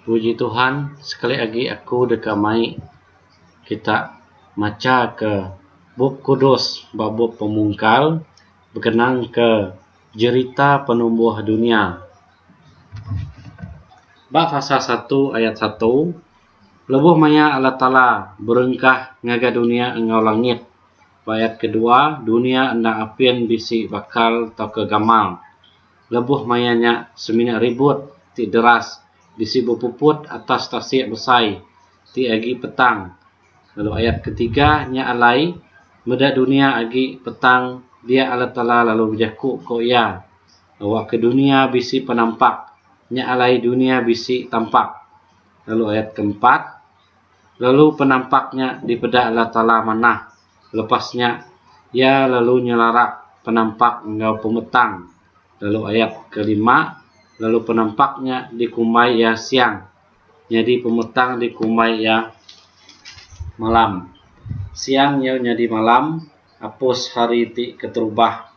Puji Tuhan sekali agi aku deka mai kita macha ke bup kudus ba bup pemungkal bekenang ke jerita penumbuh dunya. Ba fasa satu ayat satu lebuh maya Allah Taala berengkah ngagai dunya enggau langit. Ba ayat kedua dunya enda apin bisi bakal tauka gamal. Lebuh maya nya, semina ribut ti deras bisi bepuput atas tasik besai ti agi petang, lalu ayat ketiga nya alai, Meda dunia agi petang dia Allah Taala lalu bejaku ko Iya, Awakka dunia bisi penampak, nya alai dunia bisi tampak. Lalu ayat keempat, Lalu penampak nya dipeda Allah Taala manah, Lepas nya, iya lalu nyelarak penampak enggau pemetang, lalu ayat kelima, lalu penampak nya dikumbai iya siang, nyadi pemetang dikumbai iya malam. Siang nyau nyadi malam, apus hari ti keterubah.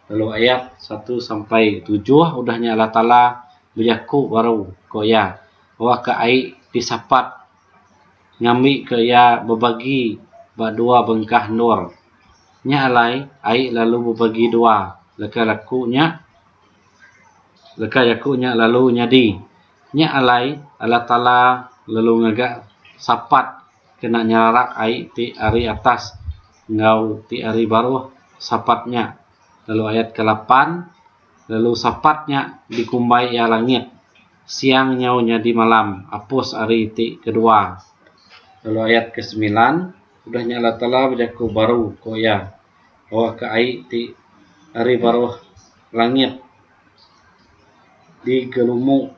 Lalu ayat satu sampai tujuh udah nya Allah Taala bejaku baru, ko Iya, Awakka ai disapat. ngambika iya bebagi ba dua bengkah endur. Nya alai ai lalu bebagi dua leka jaku nya leka jaku nya lalu nyadi. Nya alai Allah Taala lalu ngaga sapat kena nyerarak ai ti ari atas enggau ti ari baruh sapat nya lalu ayat ke lapan lalu sapat nya dikumbai iya langit. Siang nyau nyadi malam apus ari ti kedua lalu ayat ke semilan udah nya Allah Taala bejaku baru ko iya bawaka ai ti ari baruh langit digelumu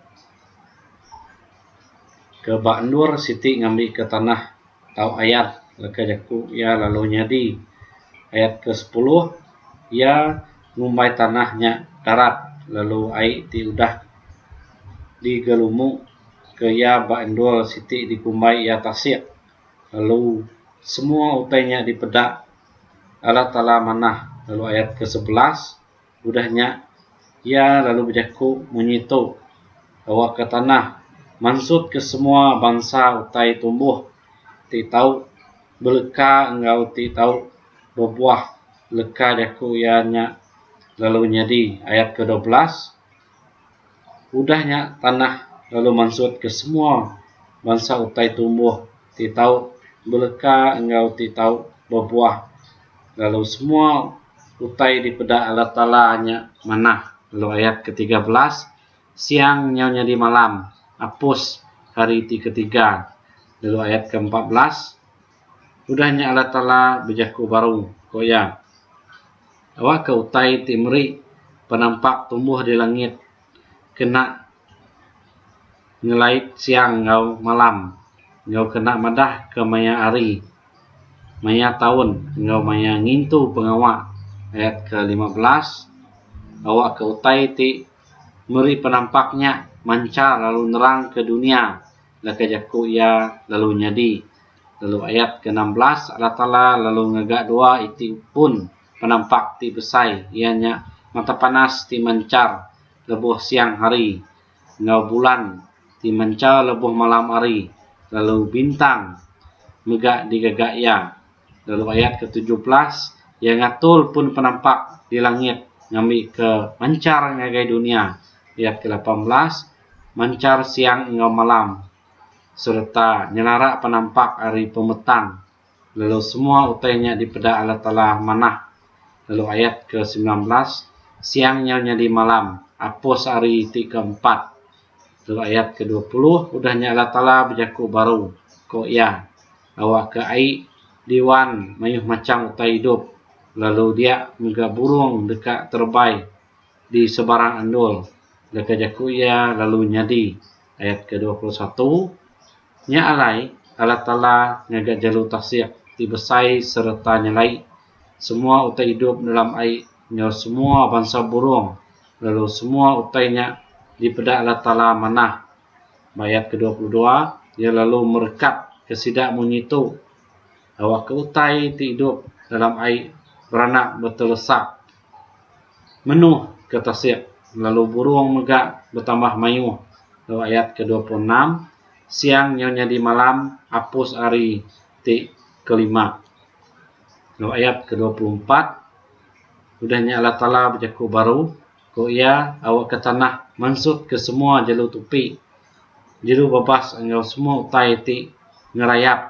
ke ba endur siti ngambi ke tanah tau ayat leka jaku iya lalu nyadi ayat ke sepuluh iya ngumbai tanah nya darat lalu ai ti udah digelumu ke iya ba endur siti dikumbai iya tasik lalu semua utai nya dipeda Allah taala manah lalu ayat ke sebelas udah nya iya lalu bejaku munyi tu awak ka tanah mansut ke semua bansa utai tumbuh ti tau beleka enggau ti tau bebuah. Leka jaku iya nya lalu nyadi ayat ke dua belas, Udah nya tanah lalu mansutka semua bansa utai tumbuh ti tau beleka enggau ti tau bebuah, lalu semua utai dipeda Allah Taala nya manah. Lalu ayat ke tiga belas, Siang nyau nyadi malam, apus hari ti ketiga. Lalu ayat ke empat belas, Udah nya Allah Taala bejaku baru, ku iya. Awakka utai ti meri penampak tumbuh di langit kena ngelait siang enggau malam enggau kena madahka maya hari, maya taun enggau maya ngintu pengawa. Ayat kelima belas, Awakka utai ti meri penampak nya manchar lalu nerangka dunya. Leka jaku iya lalu nyadi. Lalu ayat ke enam belas, Allah Taala lalu ngaga dua iti pun penampak ti besai, iya nya mata panas ti manchar lebuh siang hari, enggau bulan ti manchar lebuh malam hari, lalu bintang mega digaga iya. Lalu ayat ke tujuh belas, iya ngatur pun penampak di langit ngambika manchar ngagai dunya. Ayat ke lapan belas. manchar siang enggau malam sereta nyenara penampak ari pemetang lalu semua utai nya dipeda Allah Taala manah lalu ayat ke semilan belas siang nyau nyadi malam apus hari ti ke empat lalu ayat ke dua puluh udah nya Allah Taala bejaku baru ko iya awakka ai diwan mayuh macham utai idup lalu dia mega burung deka terebai di sebarang endur deka jaku iya lalu nyadi. Ayat ke dua puluh satu Nya alai, Allah Taala ngaga jalu tasik ti besai sereta nyelai semua utai idup dalam ai enggau semua bansa burung, lalu semua utai nya dipeda Allah Taala manah. Ba ayat ke dua puluh dua Iya lalu merekat ke sida munyi tu, awakka utai ti idup dalam ai beranak betelesak Menoh ke tasik lalu burong mega betambah maioh lalu ayat ke dua puluh enam siang nyau nyadi malam apus ari ti kelima lalu ayat ke dua puluh empat udah nya Allah taala bejaku baru ko iya awa ke tanah mansut ke semua jelu tupi jelu babas enggau semua utai ti ngerayap.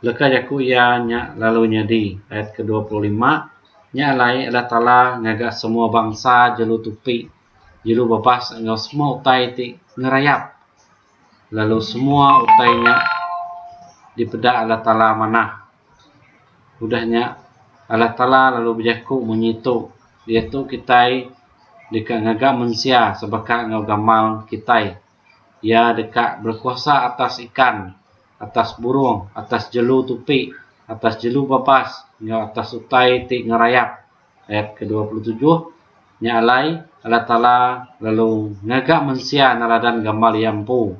Leka jaku iya nya lalu nyadi. Ayat kedua puluh lima, Nya alai Allah Taala ngaga semua bansa jelu tupi, jelu bebas enggau semua utai ti ngerayap, lalu semua utai nya dipeda Allah Taala manah. Udah nya Allah Taala lalu bejaku munyi tu, Diatu kitai deka ngaga mensia sebaka enggau gamal kitai. Iya deka berekuasa atas ikan, atas burung, atas jelu tupi, atas jelu babas, enggau atas utai ti ngerayap. Ayat kedua puluh tujuh, Nya alai, Allah Taala lalu ngaga mensia neladan gambar Iya empu.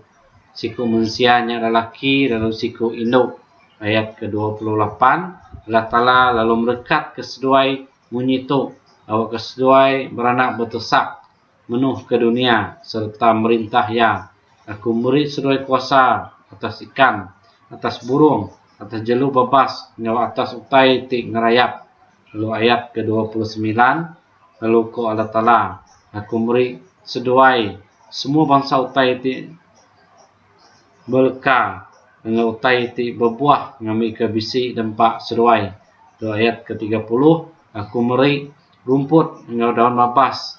Siku mensia nya adalah laki lalu siku indu. Ayat kedua puluh lapan, Allah Taala lalu merekatka seduai munyi tu, awakka seduai beranak betesak. menuhka dunia sereta merintah iya. Aku meri seduai kuasa atas ikan, atas burung, atas jelu bebas enggau atas utai ti ngerayap. Lalu ayat ke dua puluh semilan, lalu ko Allah Taala, Aku meri seduai semua bansa utai ti. beleka enggau utai ti bebuah ngambika bisi dempa seduai. Tu ayat ke tiga puluh, Aku meri rumput enggau daun babas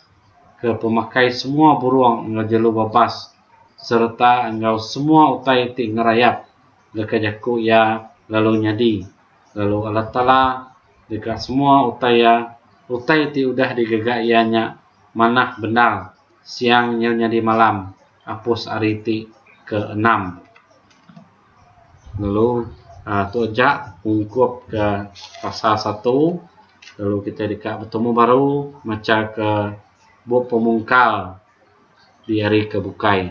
ke pemakai semua burung enggau jelu babas sereta enggau semua utai ti ngerayap deka jaku iya lalu nyadi, lalu Allah Taala deka semua utai iya, utai ti udah digaga iya nya manah bendar. Siang nyu nyadi malam apus ari ti ke enam. Lalu aaa tu aja ungkup ke pasal satu lalu kitai deka betemu baru macha ke bup pemungkal diari ke bukai.